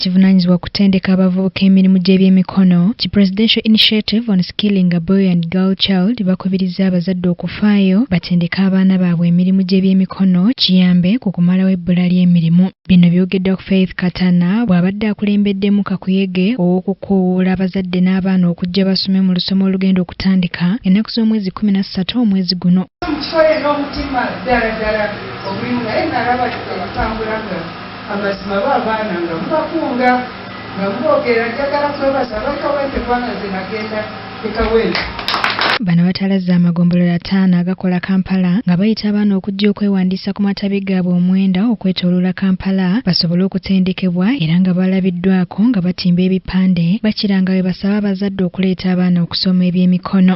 kivunanyizibwa kutendeka abavubuka emirimu gy'ebyemikono ki Presidential Initiative on Skilling a Boy and Girl Child bakubirizza abazadde okufaayo batendeke abaana baabwe emirimu gy'ebyemikono kiyambe ku kumalawo ebbula ly'emirimu. Bino byogeddwa ku Faith Katana bw'abadde akulembeddemu kakuyege ow'okukoowola abazadde n'abaana okujja basome mu lusoma olugenda okutandika ennaku z'omwezi kkumi na ssatu omwezi guno. Amazima ba baana nga mubakunga nga muboogera njagala kwebaza abali kawempe kubanga nze nagenda e kawempe Bano batalazze amagombolola ataano agakola Kampala nga bayita abaana okujja okwewandiisa ku matabi gaabwe omwenda okwetooloola Kampala basobole okutendekebwa era nga balabiddwako nga batimba ebipande bakira nga bwe basaba abazadde okuleeta abaana okusoma ebyemikono.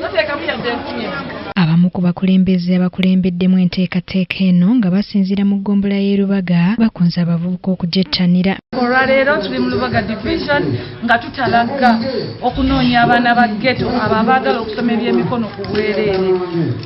toteekamu yadde enkumi abamu ku bakulembeze abakulembeddemu enteekateeka eno nga basinziira mu ggombola y'e Lubaga bakunze abavubuka okugyettanira olwaleero tuli mu Lubaga division nga tutalagga okunoonya abaana ba ghetto abo abaagala okusoma ebyemikono ku bwereere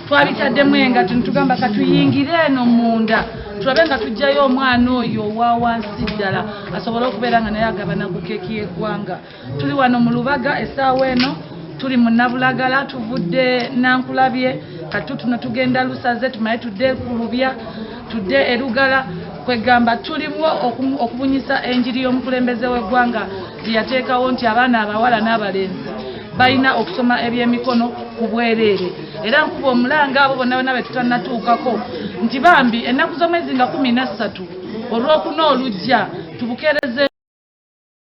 twabitaddemu engatto ne tugamba katuyingire eno munda tulabe nga tujjayo omwana oyo owa wansi ddala asobole okubeera nga naye agabana ku keeki y'eggwanga tuli wano mu lubaga esaawa eno tuli mu nabulagala tuvudde nankulabye katu tuno tugenda lusaze tumale tudde kulubya tudde erugala kwegamba tulimu okubunyisa enjiri y'omukulembeze w'eggwanga gyeyateekawo nti abaana abawala n'abalenzi balina okusoma ebyemikono ku bwereere era nkuba omulanga abo bonna bona betutanatuukako nti bambi ennaku z'omwezi nga kumi nassatu olwokuna olujja tubukereze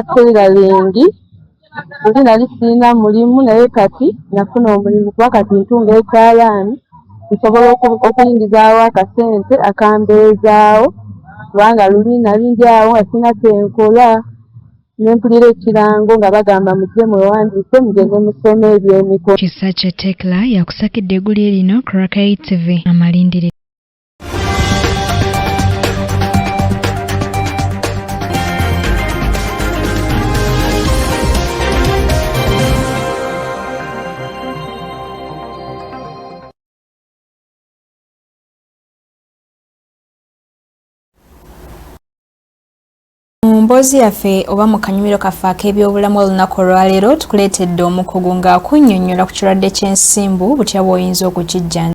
Akulira lingi nze nali sirina mulimu naye kati nafuna omulimu kuba kati ntunga ekyalaani nsobola okuyingizaawo akasente akambeezaawo kubanga luli nali ndi awo nga sirina kyenkola nempulira ekirango nga bagamba mujje mwewandiise mugende musome ebyemiko kisakye tekla yakusakidde egulye lino crakai tv amalindiri mboozi yaffe oba mu kanyumiro kaffe ak'ebyobulamu olunaku olwaleero tukuleetedde omukugu ng'akunnyonnyola ku kirwadde ky'ensimbu butya bw'oyinza okukijjanja